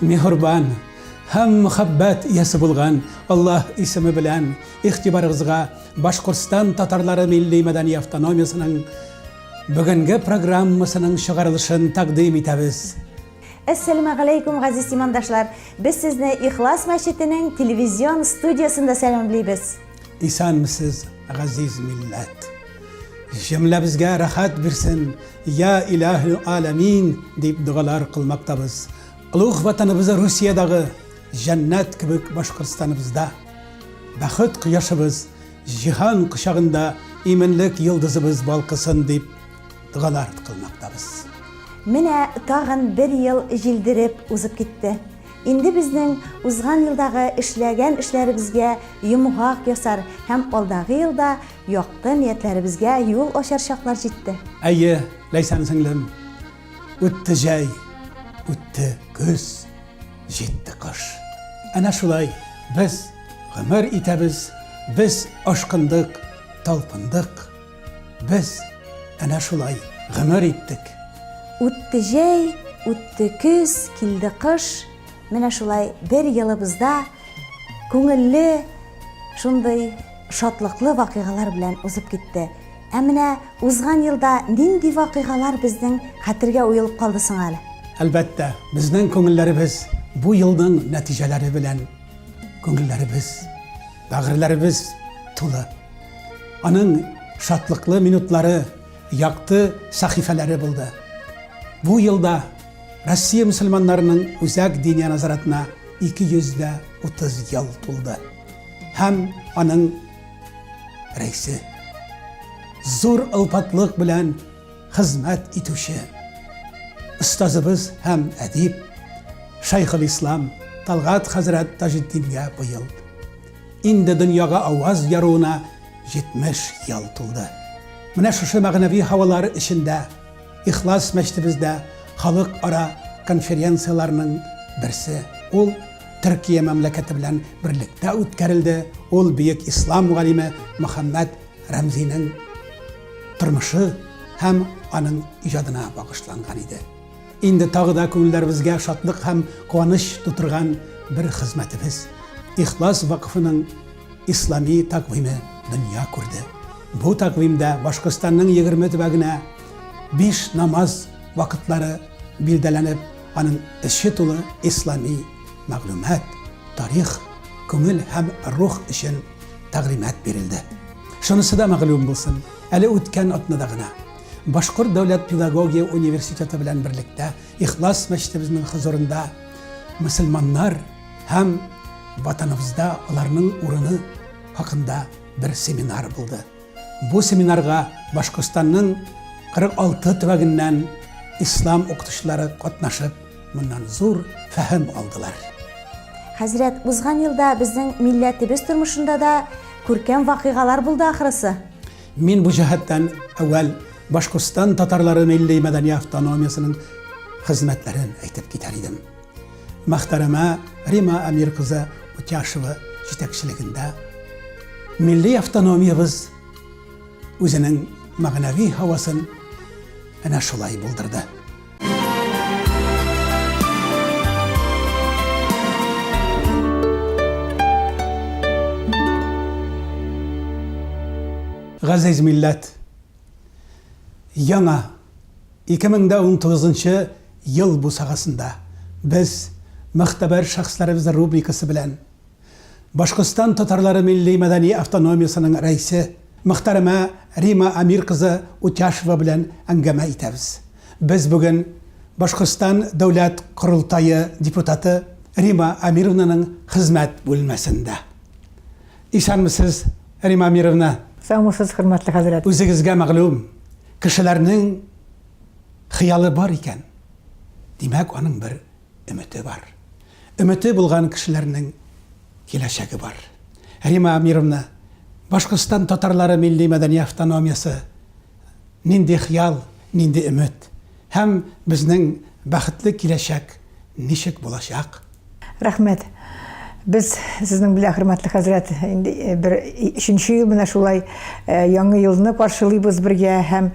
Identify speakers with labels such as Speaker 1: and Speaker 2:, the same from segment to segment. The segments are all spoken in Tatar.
Speaker 1: Миһрбан һәм мөхәббәт иясе булган Аллаһ исеме белән игътибарыгызга Башкортстан татарлары милли-мәдәни автономиясенең бүгенге программасының чыгарылышын тәкъдим итәбез.
Speaker 2: Әссәләмәгаләйкүм, газиз имандашлар! Без сезне Ихлас мәчетенең телевизион студиясендә сәламлибез. Исәнмесез,
Speaker 1: газиз милләт! Җөмләбезгә рәхәт бирсен! Йа Илаһел Аләмин! дип догалар кылмактабыз. Олуг Ватаныбызы Русиядагы җәннәт кебек Башкортстаныбызда, бәхет кояшыбыз, җиһан кочагында иминлек йолдызыбыз балкысын дип догалар кылмактабыз. Менә
Speaker 2: тагын бер ел җилдереп узып китте. Инде безнең узган елдагы эшләгән эшләребезгә йомгак ясар һәм алдагы елда Якты ниятләребезгә юл ачар чаклар җитте. Әйе,
Speaker 1: Ләйсән сеңлем, үтте җәй, үтте көз, җитте кыш. Әнә шулай без гомер итәбез, без ашкындык, талпындык. Без әнә шулай гомер иттек. Үтте
Speaker 2: җәй, үтте көз, килде кыш. Менә шулай бер елыбызда күңелле, шундый шатлыклы вакыйгалар белән узып китте. Ә менә узган елда нинди вакыйгалар безнең хәтергә уелып калды соң әле? Әлбәттә,
Speaker 1: безнең күңелләребез бу елның нәтиҗәләре белән күңелләребез, бәгырьләребез тулы. Аның шатлыклы минутлары, якты сәхифәләре булды. Бу елда Россия мөселманнарының Үзәк Диния назаратына 230 ел тулды. Һәм аның рәисе зур ылпатлык белән хезмәт итүче остазыбыз һәм әдип Шайхул Ислам Талгат хәзрәт Таҗетдингә быел инде дөньяга аваз яруына 70 ел тулды. Менә шушы мәгънәви һавалар эчендә Ихлас мәчетебездә халыкара конференцияләрнең берсе, ул Төркия мәмләкәте белән берлектә үткәрелде, ул бөек ислам галиме Мөхәммәд Рәмзинең тормышы һәм аның иҗадына багышланган иде. Инде тагы да күңелләребезгә шатлык һәм куаныч тутырган бер хезмәтебез, Ихлас вакфының Ислами тәкъвиме дөнья күрде. Бу тәкъвимдә Башкортстанның егерме төбәгенә биш намаз вакытлары билдәләнеп, аның эче тулы ислами мәгълүмат, тарих, күңел һәм рух өчен тәгълимат бирелде. Шунысы да мәгълүм булсын, әле үткән атнада гына Башкорт дәүләт педагогия университеты белән берлектә Ихлас мәчетебезнең хозурында мөселманнар Һәм ватаныбызда аларның урыны хакында бер семинар булды. Бу семинарга Башкортстанның 46 төбәгеннән ислам укытучылары катнашып, моннан зур фәһем алдылар. Хәзрәт,
Speaker 2: узган елда безнең милләтебез тормышында да күркәм вакыйгалар булды ахрысы. Мин бу
Speaker 1: җәһәттән әүвәл Башкортстан татарлары милли мәдәни автономиясенең хезмәтләрен әйтеп китәр идем. Мәхтәрәмә Рима Әмир кызы Утяшева җитәкчелегендә милли автономиябез үзенең мәгънәви һавасын әнә шулай булдырды. Газиз милләт, Яңа, 2019 нчы ел бусагасында без Мөгътәбәр шәхесләребез рубрикасы белән Башкортстан татарлары милли-мәдәни автономиясенең рәисе, мөхтәрәмә Рима Әмир кызы Утяшева белән әңгәмә итәбез. Без бүген Башкортстан Дәүләт Корылтае депутаты Рима Әмировнаның хезмәт бүлмәсендә. Исәнмесез, Римма Амировна! Саумысыз, хөрмәтле
Speaker 3: хәзрәт! Үзегезгә мәгълүм,
Speaker 1: кешеләрнең хыялы бар икән, димәк, аның бер өмете бар. Өмете булган кешеләрнең киләчәге бар. Римма Амировна, Башкортстан татарлары милли-мәдәни автономиясе, Нинди хыял, нинди өмет? Һәм безнең бәхетле киләчәк ничек булачак? Рәхмәт.
Speaker 3: Без сезнең белән, хөрмәтле хәзрәт, инде бер өченче ел менә шулай яңа елны каршылыйбыз бергә һәм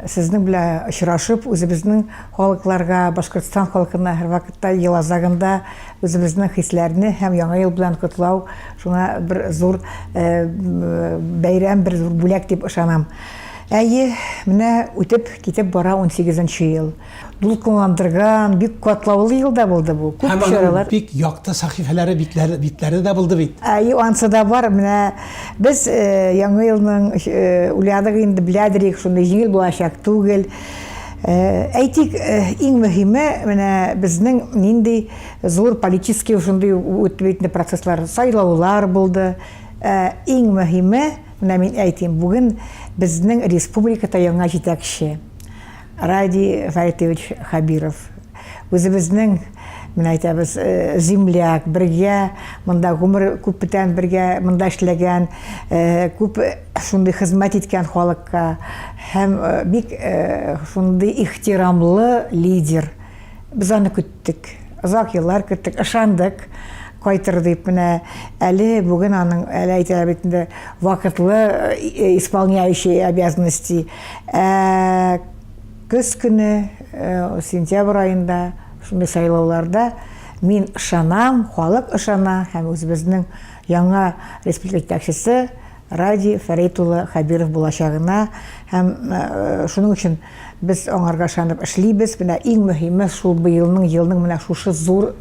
Speaker 3: сезнең белән очрашып, үзебезнең халыкларга, Башкортстан халкына һәрвакытта ел азагында үзебезнең хисләрне һәм яңа ел белән котлау шуңа бер зур бәйрәм, бер зур бүләк дип ышанам. Әйе, менә үтеп китеп бара 18 нче ел. Дулкынландырган, бик катлаулы ел да булды бу. Күп чаралар. Бик якты сәхифәләре,
Speaker 1: битләре, битләре дә булды бит. Әйе, ансы да бар.
Speaker 3: Менә без э, яңа елның э, уйладык инде, беләдерик, шундый җиңел булачак түгел. Э, әйтик, э, иң мөһиме менә безнең нинди зур политический шундый үтте процесслар, сайлаулар булды. Э, иң мөһиме Менә мин әйтим, бүген безнең республикада яңа җитәкче Радий Фәритович Хабиров. Үзебезнең менә әйтәбез э, земляк бергә монда гомер күп бүтән бергә монда эшләгән э, күп шундый хезмәт иткән халыкка һәм э, бик шундый ихтирамлы лидер Без аны көттек. Озак еллар көттек, ышандык кайтыр дип менә әле бүген аның әле әйтәләр бит инде вакытлы э, исполняющий обязанности ә, көз көне э, сентябрь айында шундый сайлауларда мин ышанам халык ышана һәм үзебезнең яңа республика җитәкчесе Радий Фәрит улы Хәбиров булачагына һәм шуның өчен без аңарга ышанып эшлибез. Менә иң мөһиме шул быелның елның менә шушы зур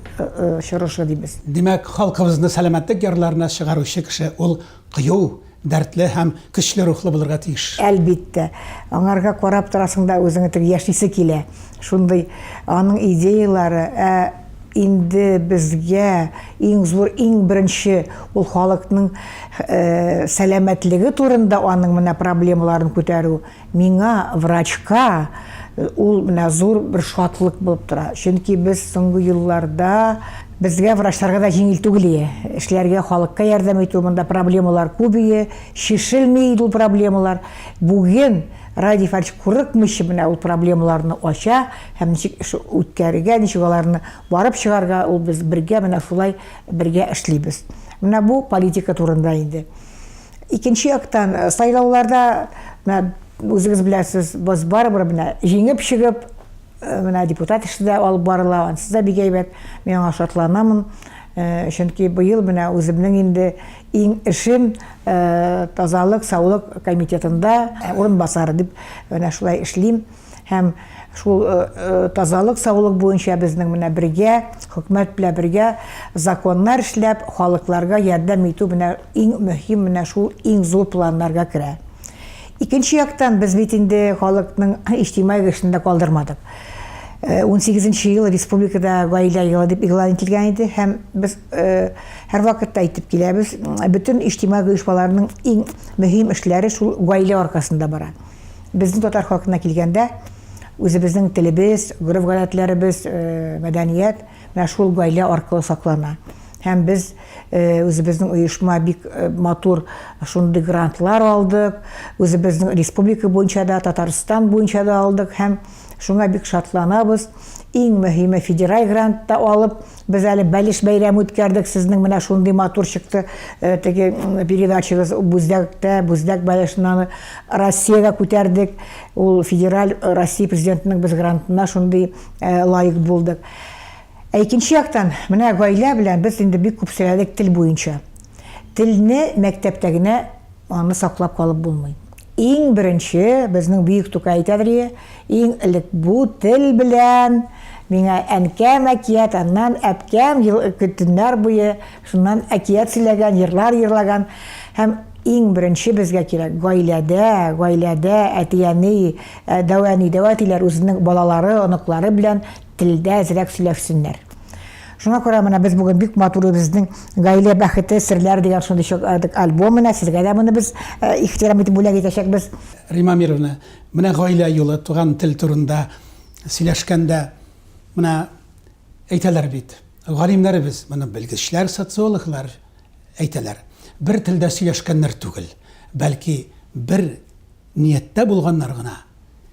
Speaker 3: чорышы дибез. Димәк, халкыбызны
Speaker 1: сәламәтлек ярларына чыгаручы кеше ул кыю, дәртле һәм көчле рухлы булырга тиеш. Әлбиттә.
Speaker 3: Аңарга карап торасың да үзеңә теге яшисе килә. Шундый аның идеяләре, ә инде безгә иң зур, иң беренче ул халыкның сәламәтлеге турында аның менә проблемаларын күтәрү, миңа, врачка, ул менә зур бер шатлык булып тора. Чөнки без соңгы елларда безгә врачларга да җиңел түгел ие. Эшләргә, халыкка ярдәм итү, монда проблемалар күбие, чишелми иде ул проблемалар. Бүген Радий Фарич курыкмыйча менә ул проблемаларны ача һәм ничек эш үткәрергә, ничек аларны барып чыгарга, ул без бергә менә шулай бергә эшлибез. Менә бу политика турында инде. Икенче яктан, э, сайлауларда менә үзегез беләсез, без барыбер менә җиңеп чыгып, э, менә депутат эше дә алып барыла, ансы да бик әйбәт. Мин аңа шатланамын. Э, чөнки быел менә үземнең инде Иң эшем тазалык, саулык комитетында урынбасар дип менә шулай эшлим. Һәм шул тазалык, саулык буенча безнең менә бергә, хөкүмәт белән бергә законнар эшләп, халыкларга ярдәм итү менә иң мөһим менә шул иң зур планнарга керә. Икенче яктан без бит инде халыкның иҗтимагый эшен дә калдырмадык. 18 ел республикада гаилә елы дип игълан ителгән иде һәм без Һәрвакытта әйтеп киләбез, бөтен иҗтимагый оешмаларның иң мөһим эшләре шул гаилә аркасында бара. Безнең татар халкына килгәндә, үзебезнең телебез, гореф-гадәтләребез, мәдәният менә шул гаилә аркылы саклана. Һәм без үзебезнең оешма бик матур шундый грантлар алдык, үзебезнең республика буенча да, Татарстан буенча да алдык һәм шуңа бик шатланабыз. Иң мөһиме федераль грант та алып, Без әле бәлеш бәйрәме үткәрдек, сезнең менә шундый матур чыкты э, теге передачагыз Бүздәктә, Бүздәк бәлешнаны Россиягә күтәрдек. Ул федераль э, Россия президентының без грантына шундый э, лайык булдык. Ә икенче яктан, менә гаилә белән без инде бик күп сөйләдек тел буенча. Телне мәктәптә генә аны саклап калып булмый. Иң беренче, безнең бөек Тукай әйтәдер ие, иң элек бу тел белән миңа әнкәм әкият, аннан әпкәм төннәр буе шуннан әкият сөйләгән, йырлар йырлаган. Һәм иң беренче безгә кирәк, гаиләдә, гаиләдә әти-әни, дәү әни, дәү әтиләр үзенең балалары, оныклары белән телдә әзрәк сөйләшсеннәр. Шуңа күрә менә без бүген бик матур үзебезнең Гаилә бәхете серләре дигән шундый чок альбом менә сезгә дә моны без э, ихтирам итеп бүләк итәчәкбез. Рима Мировна,
Speaker 1: менә гаилә юлы, туган тел турында сөйләшкәндә, менә әйтәләр бит, галимнәребез, моны белгечләр, социологлар әйтәләр. Бер телдә сөйләшкәннәр түгел, бәлки бер нияттә булганнар гына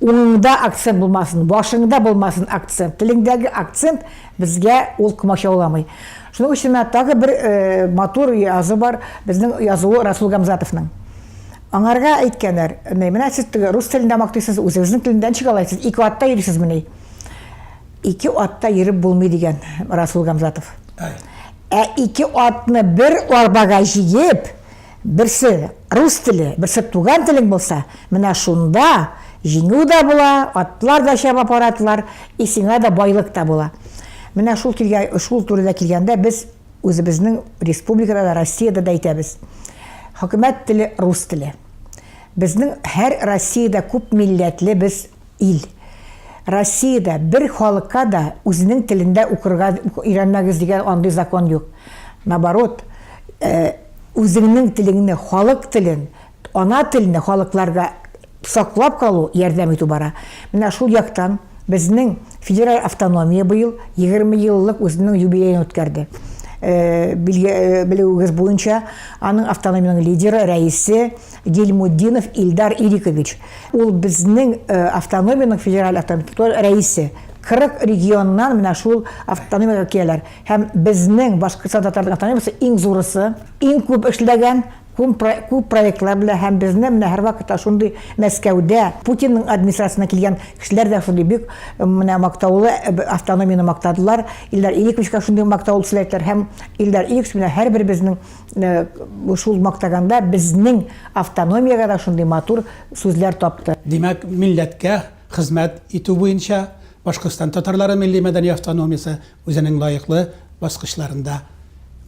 Speaker 3: Уңыңда акцент булмасын, башыңда булмасын акцент. Телеңдәге акцент безгә ул комачауламый. Шуның өчен менә тагы бер матур язу бар, безнең язуы Расул Гамзатовның. Аңарга әйткәннәр, менә сез теге рус телендә мактыйсыз, үзегезнең телендә ничек алай сез ике атта йөрисезмени? Ике атта йөреп булмый дигән Расул Гамзатов. Ә ике атны бер арбага җигеп, Берсе рус теле, берсе туган телең булса, менә шунда җиңү дә була, атлар да чаба парадлар, и сиңа да байлык та була. Менә шул килгә, шул турыда килгәндә без үзебезнең республикада да, Россиядә дә әйтәбез. Хөкүмәт теле рус теле. Безнең һәр Россиядә күп милләтле без ил. Россиядә бер халыкка да үзенең телендә укырга өйрәнмәгез дигән андый закон юк. Наоборот, үзеңнең телеңне, халык телен, ана телне халыкларга саклап калу, ярдәм итү бара. Менә шул яктан безнең федераль автономия быел 20 еллык үзенең юбилеен үткәрде. Белүегез буенча, аның автономиянең лидеры, рәисе Гильмутдинов Илдар Ирикович, ул безнең автономиянең федераль автономияләр рәисе. 40 регионнан менә шул автономиягә киләләр. Һәм безнең Башкортстан татар автономиясе иң зурысы, иң күп эшләгән, күп проектлар белән һәм безне менә һәрвакыт та шундый Мәскәүдә Путинның администрациясенә килгән кешеләр дә шундый бик менә мактаулы автономияне мактадылар. Илдар Ириковичка шундый мактаулы сүзләр әйттеләр һәм Илдар Ирикович менә һәрберебезнең Шул мактаганда безнең автономиягә дә шундый матур сүзләр тапты. Димәк, милләткә
Speaker 1: хезмәт итү буенча Башкортстан татарлары милли-мәдәни автономиясе үзенең лаеклы баскычларында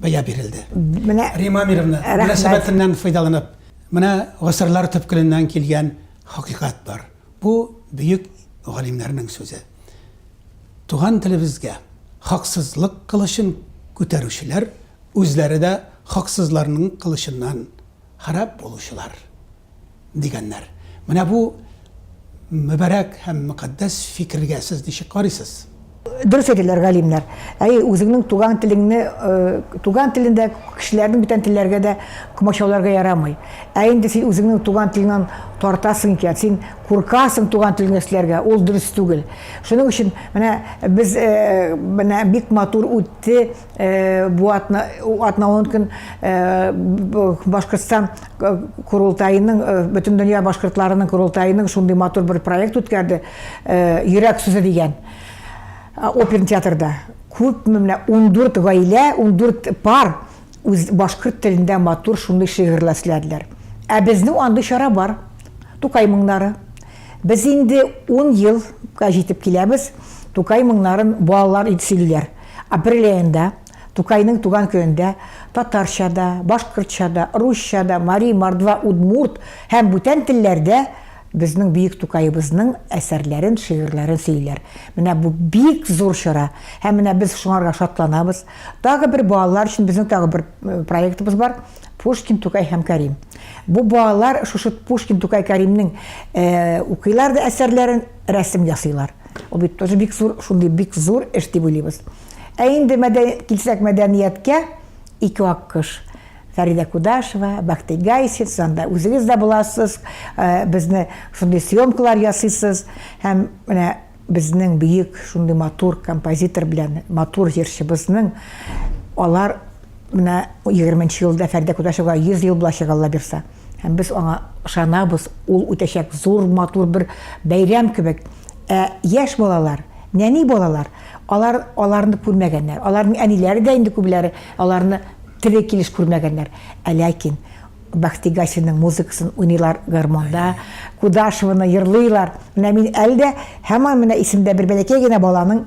Speaker 1: бәя бирелде. Менә Римма Амировна, мөнәсәбәтеннән файдаланып, менә гасырлар төпкеленнән килгән хакыйкать бар. Бу бөек галимнәрнең сүзе. Туган телебезгә хаксызлык кылычын күтәрүчеләр Үзләре дә хаксызларның кылычыннан харап булучылар, дигәннәр. Менә бу мөбарәк һәм мөкатдәс фикергә сез ничек карыйсыз? Дөрес әйтәләр
Speaker 3: галимнәр. Әйе, үзеңнең туган телеңне, туган телендә кешеләрнең бүтән телләргә дә комачауларга ярамый. Ә инде син үзеңнең туган телеңнән тартасың икән, син куркасың туган телеңдә эшләргә, ул дөрес түгел. Шуның өчен менә без, менә бик матур үтте, Э, бу атналыгын көн э, башкортстан э, курултайының бөтен дөнья башкортларының курултайының шундый матур бер проект үткәрде йөрәк сүзе дигән оперный театрда күпме менә ундүрт гаилә ундүрт пар үз башкорт телендә матур шундый шигырьләр эшләделәр ә безнең андый чара бар тукай моңнары без инде ун елга җитеп киләбез тукай моңнарын балалар сөйлиләр Апрель аенда Тукайның туган көендә татарча да, башкортча да, русча да, мари, мордва, удмурт һәм бүтән телләрдә безнең бөек Тукаебызның әсәрләрен, шигырьләрен сөйлиләр. Менә бу бик зур чара һәм менә без шуңарга шатланабыз. Тагы бер балалар өчен безнең тагы бер э, проектыбыз бар. Пушкин, Тукай һәм Карим. Бу балалар шушы Пушкин, Тукай, Каримның э, укыйлар да әсәрләрен, рәсем ясыйлар. Ул бит тоже бик зур, шундый бик зур эш дип уйлыйбыз. Ә инде мәдән... килсәк мәдәнияткә, ике аккош. Фәридә Кудашева, Бәхти Гайсин, сез анда үзегез дә буласыз, э, безне шундый съемкалар ясыйсыз һәм менә безнең бөек шундый матур композитор белән матур җырчыбызның алар менә 20 елда Фәридә Кудашева 100 ел булачак Алла бирса. Һәм без аңа ышанабыз, ул үтәчәк зур, матур бер бәйрәм кебек. Ә яшь балалар, нәни балалар, алар аларны күрмәгәннәр. Аларның әниләре дә инде күбеләре аларны тере килеш күрмәгәннәр. Ә ләкин Бәхти Гасинның музыкасын уйныйлар гармонда, Кудашеваны йырлыйлар. Менә мин әле дә һаман менә исемдә бер бәләкәй генә баланың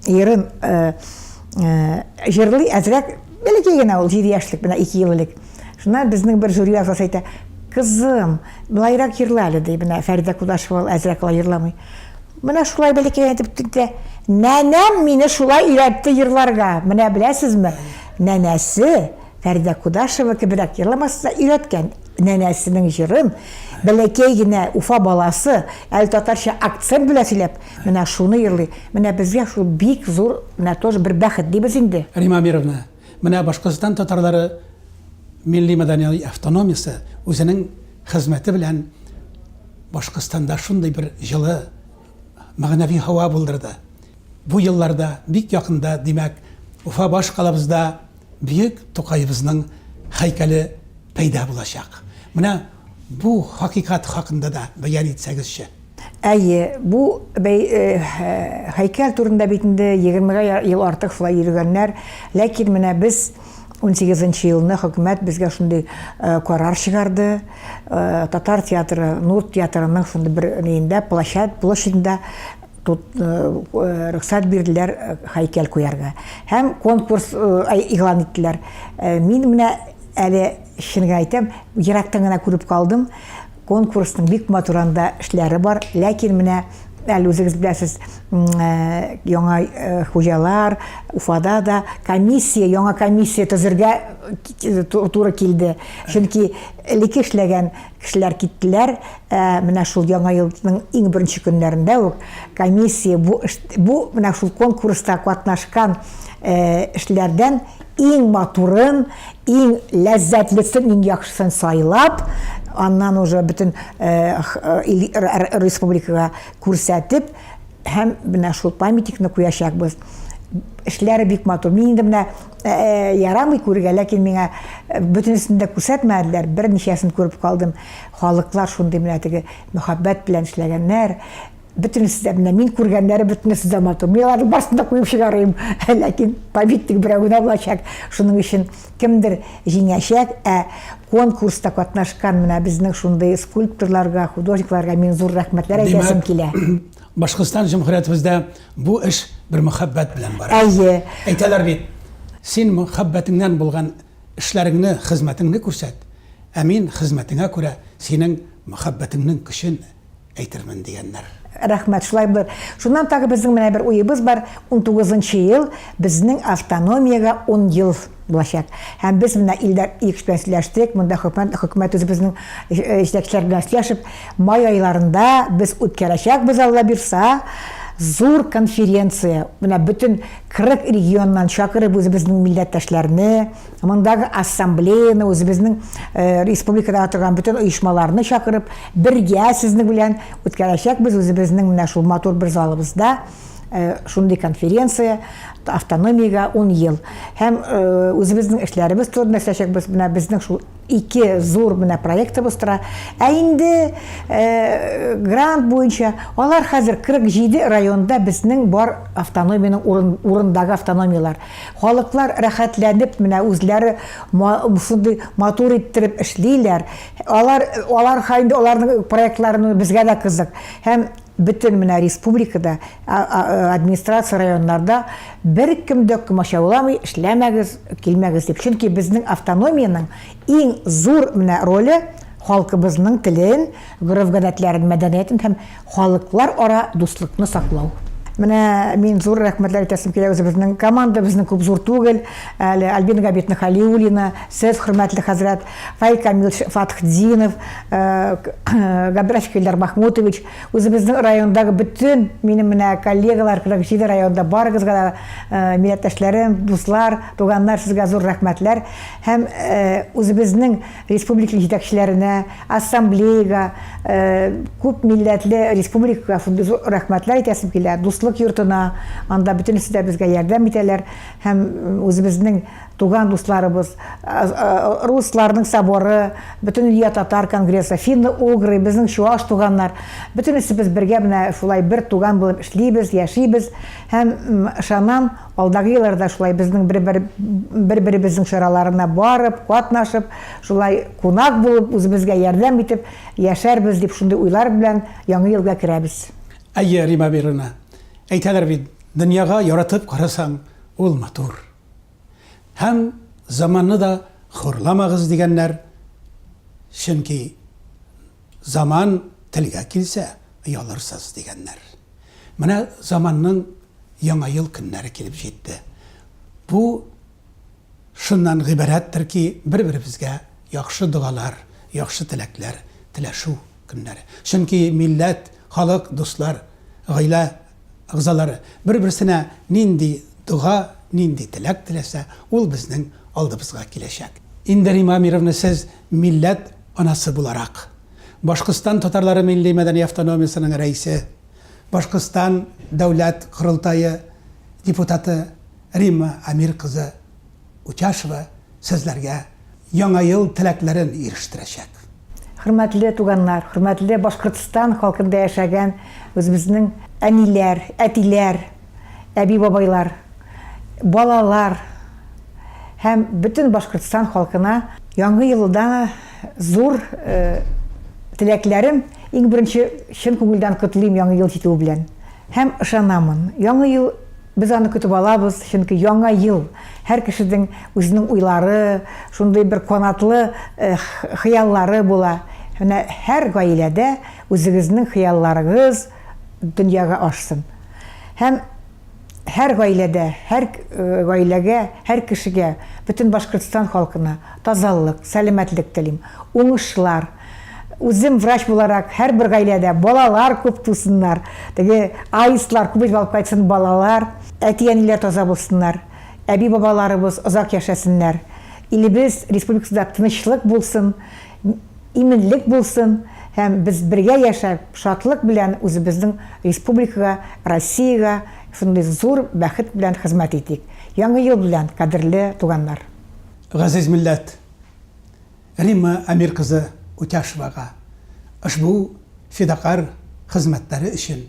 Speaker 3: йырын э, э, җырлый, әзрәк Бәләкәй генә ул, җиде яшьлек, менә ике ел элек. Шуннан безнең бер жюри әгъзасы әйтә, Кызым, былайрак җырла әле, ди, менә Фәридә Кудашева ул әзрәк алай җырламый. Менә шулай бәләкәй генә итеп тетә. Нәнәм мине шулай өйрәтте җырларга. Менә беләсезме, нәнәсе Фәридә Кудашева кеберәк җырламасын да өйрәткән. Нәнәсенең җырын бәләкәй генә Уфа баласы әле татарча акцент белән сөйләп, менә шуны йырлый. Менә безгә шул бик зур, менә тоже бер бәхет дибез инде. Рима Амировна,
Speaker 1: менә Башкортстан татарлары милли-мәдәни автономиясе үзенең хезмәте белән Башкортстанда шундый бер җылы мәгънәви һава булдырды. Бу елларда, бик якында, димәк, Уфа баш калабызда, Бөек Тукаебызның һәйкәле пәйда булачак. Менә бу хакыйкать хакында да бәян итсәгезче. Әйе,
Speaker 3: бу һәйкәл турында бит инде егермегә ел артык шулай йөрегәннәр, ләкин менә без унсигезенче елны хөкүмәт безгә шундый карар чыгарды, татар театры, Нур театрының шундый бер өендә, площадь, площадьдә Тут рөхсәт бирделәр һәйкәл куярга. Һәм конкурс игълан иттеләр. Мин менә әле чын гына әйтәм, ерактан гына күреп калдым. Конкурсның бик матур анда эшләре бар, ләкин менә әле үзегез беләсез, яңа хуҗалар, Уфада да комиссия, яңа комиссия төзергә туры килде. Чөнки элекке эшләгән Кешеләр киттеләр. Ә менә шул Яңа елның иң беренче көннәрендә үк комиссия бу бу менә шул конкурста катнашкан эшләрдән иң матурын, иң ләззәтлесен, иң яхшысын сайлап, аннан уже бөтен республикага күрсәтеп, Һәм менә шул памятникны куячакбыз. Эшләре бик матур. Мин инде менә э, э, ярамый күрергә, ләкин миңа э, бөтенесен дә күрсәтмәделәр. Берничәсен күреп калдым. Халыклар шундый менә теге мөхәббәт белән эшләгәннәр. Бөтенесе дә менә мин күргәннәре бөтенесе дә матур. Мин аларның барысын да куеп чыгарыйм. Ләкин памятник берәү генә булачак. Шуның өчен Кемдер җиңәчәк, ә конкурста катнашкан менә безнең шундый скульпторларга, художникларга мин зур рәхмәтләр әйтәсем килә. Башкортстан
Speaker 1: җөмһүриятебездә бу эш бер мөхәббәт белән бара. Әйе. Әйтәләр
Speaker 3: бит,
Speaker 1: син мөхәббәтеңнән булган эшләреңне, хезмәтеңне күрсәт, ә мин хезмәтеңә күрә синең мөхәббәтеңнең көчен әйтермен дигәннәр. Рәхмәт, шулай булыр.
Speaker 3: Шуннан тагы безнең менә бер уебыз бар, унтугыз нчы ел безнең автономиягә ун ел булачак. Һәм без менә Илдар Ильич белән сөйләштек, монда хөкүмәт, хөкүмәт үзебезнең җитәкчеләр белән сөйләшеп, май айларында без үткәрәчәкбез, Алла бирса, зур конференция, менә бөтен 40 регионнан чакырып үзебезнең милләттәшләрне, Мондагы ассамблеяны, үзебезнең э, республикадагы торган бөтен оешмаларны чакырып, бергә сезнең белән үткәрәчәкбез үзебезнең менә шул матур бер залыбызда э, шундый конференция автономиягә 10 ел. Һәм э, үзебезнең эшләребез турында сөйләшәкбез. Менә безнең шул ике зур менә проектыбыз тора. Ә инде э, грант буенча алар хәзер 47 районда безнең бар автономиянең урын, урындагы автономиялар. Халыклар рәхәтләнеп менә үзләре ма шундый матур иттереп эшлиләр. Алар алар ха инде аларның проектларын безгә дә кызык. Һәм бөтен менә республикада, а а администрация районнарда беркем дә комачауламый, эшләмәгез, килмәгез дип. Чөнки безнең автономиянең иң зур менә роле, халкыбызның телен, гореф-гадәтләрен, мәдәниятен һәм Халыклар ара дуслыкны саклау. Менә мин зур рәхмәтләр әйтәсем килә үзебезнең команда, безнең күп зур түгел, әле Альбина Габитовна Халиуллина, сез, хөрмәтле хәзрәт, Фаил Камилович Фатхтдинов, Габдрашев Илдар Махмутович, үзебезнең райондагы бөтен минем менә коллегалар, 47 районда, барыгызга да, милләттәшләрем, дуслар, туганнар, сезгә зур рәхмәтләр. Һәм үзебезнең республика җитәкчеләренә, ассамблеяга, күп милләтле республикага шундый зур рәхмәтләр әйтәсем килә, дуслык йортына, анда бөтенесе дә безгә ярдәм итәләр һәм үзебезнең туган дусларыбыз, русларның соборы, бөтенлөя татар конгрессы, финно-угры, безнең чуаш туганнар, бөтенесебез бергә менә шулай бер туган булып эшлибез, яшибез һәм ышанам, Алдагы елларда шулай безнең бер-бер бер-беребезнең чараларына барып, катнашып, шулай кунак булып, үзебезгә ярдәм итеп яшәрбез дип шундый уйлар белән Яңа елга керәбез. Әйе, Рима
Speaker 1: Бирина, әйтәләр бит, дөньяга яратып карасаң, ул матур. Һәм заманны да хурламагыз дигәннәр, чөнки заман телгә килсә, оялырсыз дигәннәр. Менә заманның Яңа ел көннәре килеп җитте. Бу шуннан гыйбарәттер ки, бер-беребезгә яхшы догалар, яхшы теләкләр теләшү көннәре. Чөнки милләт, халык, дуслар, гаилә әгъзалары бер-берсенә нинди дога, нинди теләк теләсә, ул безнең алдыбызга киләчәк. Инде Римма Амировна, сез милләт анасы буларак, Башкортстан татарлары милли-мәдәни автономиясенең рәисе, Башкортстан Дәүләт Корылтае депутаты Римма Амир кызы Утяшева сезләргә Яңа ел теләкләрен ирештерәчәк. Хөрмәтле
Speaker 3: туганнар, хөрмәтле Башкортстан халкында яшәгән үзебезнең әниләр, әтиләр, әби-бабайлар, балалар һәм бөтен Башкортстан халкына Яңа елда, Зур теләкләрем, иң беренче чын күңелдән котлыйм Яңа ел җитүе белән. Һәм ышанамын, Яңа ел без аны көтеп алабыз, чөнки Яңа ел һәр кешедең үзенең уйлары, шундый бер канатлы хыяллары була. Менә һәр гаиләдә үзегезнең хыялларыгыз дөньяга ашсын. Һәм. һәр гаиләдә, һәр гаиләгә, һәр кешегә, бөтен Башкортстан халкына тазалык, сәламәтлек телим, уңышлар. Үзем врач буларак, һәрбер гаиләдә балалар күп тусыннар, теге аистлар күп итеп алып кайтсын балалар, әти-әниләр таза булсыннар, әби-бабаларыбыз озак яшәсеннәр, илебез, республикабызда тынычлык булсын. Иминлек булсын һәм без бергә яшәп, шатлык белән үзебезнең республикага, Россиягә шундый зур бәхет белән хезмәт итик. Яңы ел белән, кадерле туганнар! Газиз
Speaker 1: милләт! Римма Әмир кызы Утяшевага ошбу фидакарь хезмәтләре өчен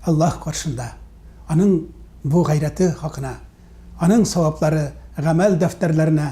Speaker 1: Аллаһ каршында, аның бу гайрәте хакына, аның саваплары гамәл дәфтәрләренә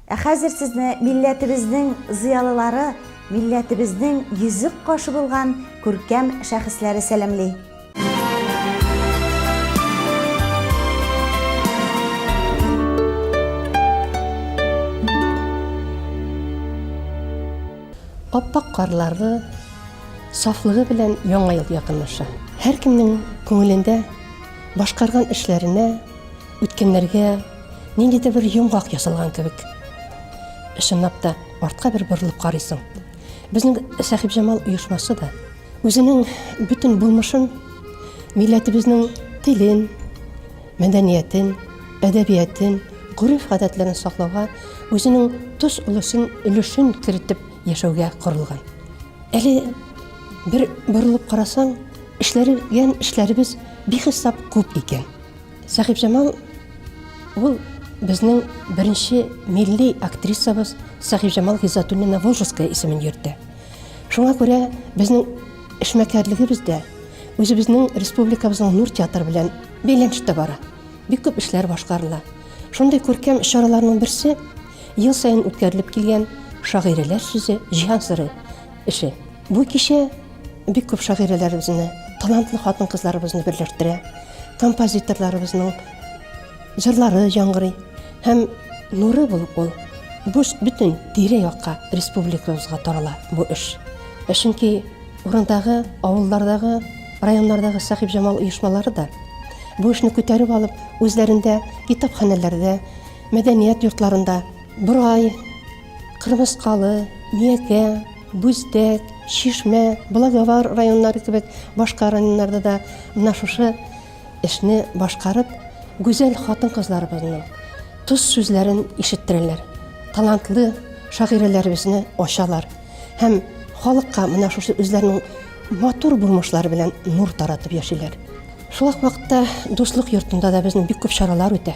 Speaker 2: Ә хәзер сезне милләтебезнең зыялылары, милләтебезнең йөзек кашы булган күркәм шәхесләре сәламли.
Speaker 4: Ап-ак карларны сафлыгы белән Яңа ел якынлаша. Һәркемнең күңелендә башкарган эшләренә, Үткәннәргә нинди дә бер йомгак ясалган кебек. Чынлап та артка бер борылып карыйсың. Безнең Сәхибҗамал оешмасы да үзенең бөтен булмышын милләтебезнең телен, мәдәниятен, әдәбиятен, гореф-гадәтләрен саклауга үзенең тос өлешен, өлешен кертеп яшәүгә корылган. Әле бер борылып карасаң, эшләргән эшләребез бихисап күп икән. Сәхибҗамал ул безнең беренче милли актрисабыз Сәхибҗамал Гизатуллина Волжская исемен йөртә. Шуңа күрә безнең эшмәкәрлегебез дә үзебезнең республикабызның Нур театры белән бәйләнештә бара. Бик күп эшләр башкарыла. Шундый күркәм чараларның берсе ел саен үткәрелеп килгән шагыйрәләр сүзе Җиһан сыры эше. Бу кичә бик күп шагыйрәләребезне, талантлы хатын-кызларыбызны берләштерә. Композиторларыбызның җырлары яңгырый һәм нуры булып ул буш бөтен тирә-якка, республикабызга тарала бу эш. Ә чөнки урындагы, авыллардагы, районнардагы Сәхибҗамал оешмалары да бу эшне күтәреп алып, үзләрендә китапханәләрдә, мәдәният йортларында Борай, Кырмыскалы, Миякә, Бүздәк, Чишмә, Благовар районнары кебек башка районнарда да менә шушы эшне башкарып, гүзәл хатын-кызларыбызның тоз сүзләрен ишеттерәләр. Талантлы шагыйрәләребезне ачалар һәм халыкка менә шушы үзләренең матур булмышлары белән нур таратып яшиләр. Шул ук вакытта Дуслык йортында да безнең бик күп чаралар үтә.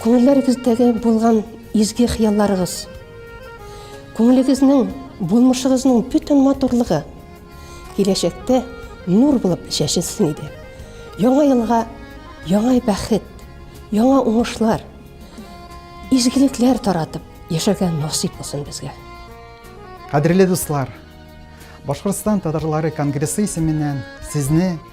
Speaker 4: Күңелләрегездәге булган изге хыялларыгыз, күңелегезнең, булмышыгызның бөтен матурлыгы киләчәктә нур булып чәчелсен иде. Яңа елга яңа бәхет, яңа уңышлар, изгелекләр таратып яшәргә насыйп булсын безгә. Кадерле
Speaker 5: дуслар! Башкортстан татарлары конгрессы исеменнән сезне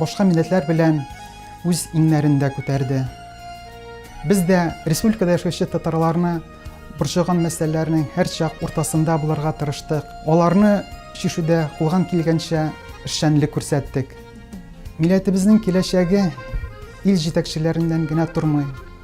Speaker 5: Башка милләтләр белән үз иңнәрендә күтәрде. Без дә республикада яшәүче татарларны борчыган мәсьәләләрнең һәрчак уртасында булырга тырыштык. Аларны чишүдә кулган килгәнчә эшчәнлек күрсәттек. Милләтебезнең киләчәге ил җитәкчеләреннән генә тормый.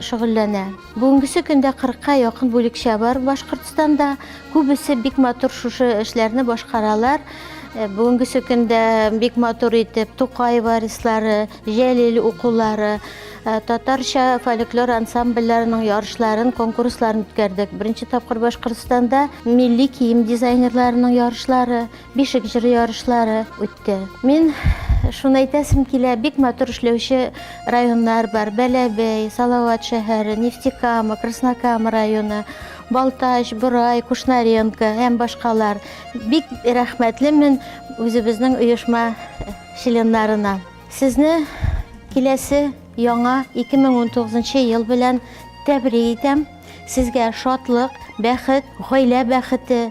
Speaker 6: шөгыльләнә. Бүгенгесе көндә кырыкка якын бүлекчә бар Башкортстанда. Күбесе бик матур шушы эшләрне башкаралар. Бүгенгесе көндә бик матур итеп Тукай варислары, Җәлил укулары, татарча фольклор ансамбльләренең ярышларын, конкурсларын үткәрдек. Беренче тапкыр Башкортстанда милли кием дизайнерларының ярышлары, Бишек җыры ярышлары үтте. Мин шуны әйтәсем килә, бик матур эшләүче районнар бар. Бәләбәй, Салават шәһәре, Нефтекама, Краснокама районы, Балтач, Борай, Кушнаренко һәм башкалар. Бик рәхмәтлемен үзебезнең оешма членнарына. Сезне киләсе яңа 2019 ел белән тәбрик итәм. Сезгә шатлык, бәхет, гаилә бәхете,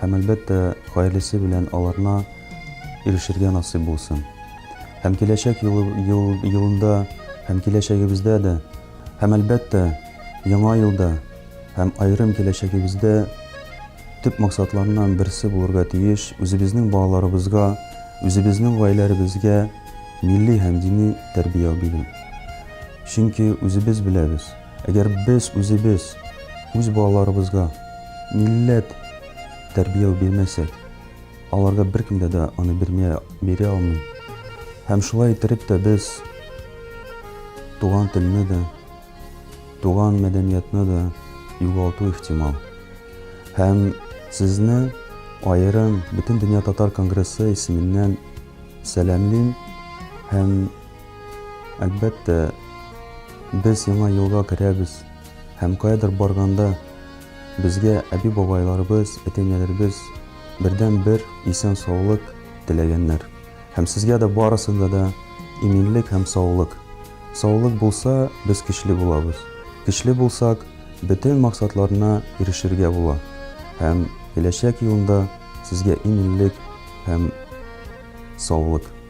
Speaker 7: һәм, әлбәттә, гаиләсе белән аларна ирешергә насыйп булсын. Һәм киләчәк ел, ел, елында, һәм киләчәгебездә дә, һәм, әлбәттә, яңа елда, һәм аерым киләчәгебездә төп максатларыннан берсе булырга тиеш үзебезнең балаларыбызга, үзебезнең гаиләләребезгә милли һәм дини тәрбия бирү. Чөнки үзебез беләбез, Әгәр без үзебез үз балаларыбызга милләт тәрбияү бирмәсәк, аларга беркем дә дә аны бирмә, бирә алмый. Һәм шулай иттереп тә без туган телне дә, туган мәдәниятны да югалту ихтимал. Һәм сезне аерым Бөтендөнья татар конгрессы исеменнән сәламлим һәм Әлбәттә, без яңа елга керәбез һәм каядыр барганда безгә әби-бабайларыбыз, әти-әниләребез бердәнбер исән-саулык теләгәннәр. Һәм сезгә дә барысында да иминлек һәм саулык. Саулык булса, без көчле булабыз. Көчле булсак, бөтен максатларына ирешергә була. Һәм киләчәк елында сезгә иминлек һәм саулык.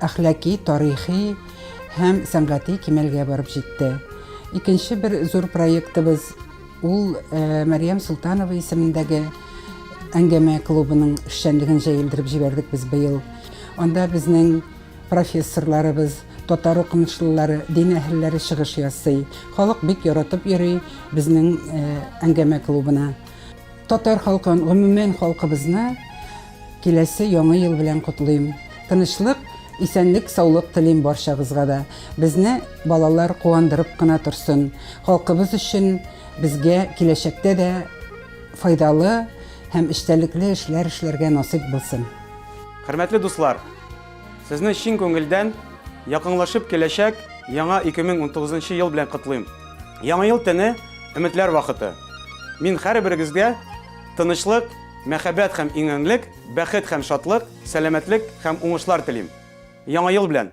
Speaker 8: әхлаки, тарихи һәм сәнгати кимәлгә барып җитте. Икенче бер зур проектыбыз ул э, Мәриям Султанова исемендәге әңгәмә клубының эшчәнлеген җәелдереп җибәрдек без быел. Анда безнең профессорларыбыз, татар укымышлылары, дин әһелләре чыгыш ясый. Халык бик яратып йөри безнең э, әңгәмә клубына. Татар халкын, гомумән халкыбызны Киләсе яңы ел белән котлыйм. Тынычлык, исәнлек, саулык телим барчагызга да. Безне балалар куандырып кына торсын. Халкыбыз өчен, безгә киләчәктә дә файдалы һәм эчтәлекле эшләр эшләргә насыйп булсын. Хөрмәтле
Speaker 9: дуслар! Сезне чын күңелдән якынлашып киләчәк яңа 2019 нчы ел белән котлыйм. Яңа ел төне, өметләр вакыты. Мин һәрберегезгә тынычлык, Мәхәббәт һәм иңеңлек, бәхет һәм шатлык, сәламәтлек һәм уңышлар телим! Яңа ел белән!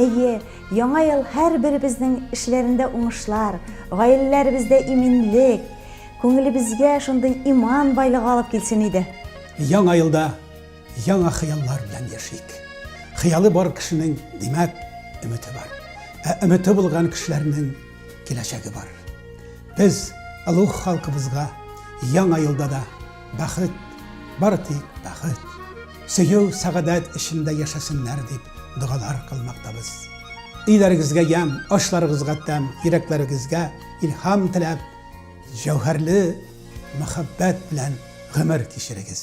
Speaker 2: Әйе, яңа ел һәрберебезнең эшләрендә уңышлар, гаиләләребездә иминлек, күңелебезгә шундый иман байлыгы алып килсен иде. Яңа елда
Speaker 1: Яңа хыяллар белән яшик. Хыялы бар кешенең, димәк, өмете бар. Ә өмете булган кешеләрнең киләчәге бар. Без олуг халкыбызга яңа елда да бәхет, бары тик бәхет, сөю, сәгадәт эчендә яшәсеннәр дип догалар кылмактабыз. Өйләрегезгә ям, ашларыгызга тәм, йөрәкләрегезгә илһам теләп, җәүһәрле мәхәббәт белән гомер кичерегез.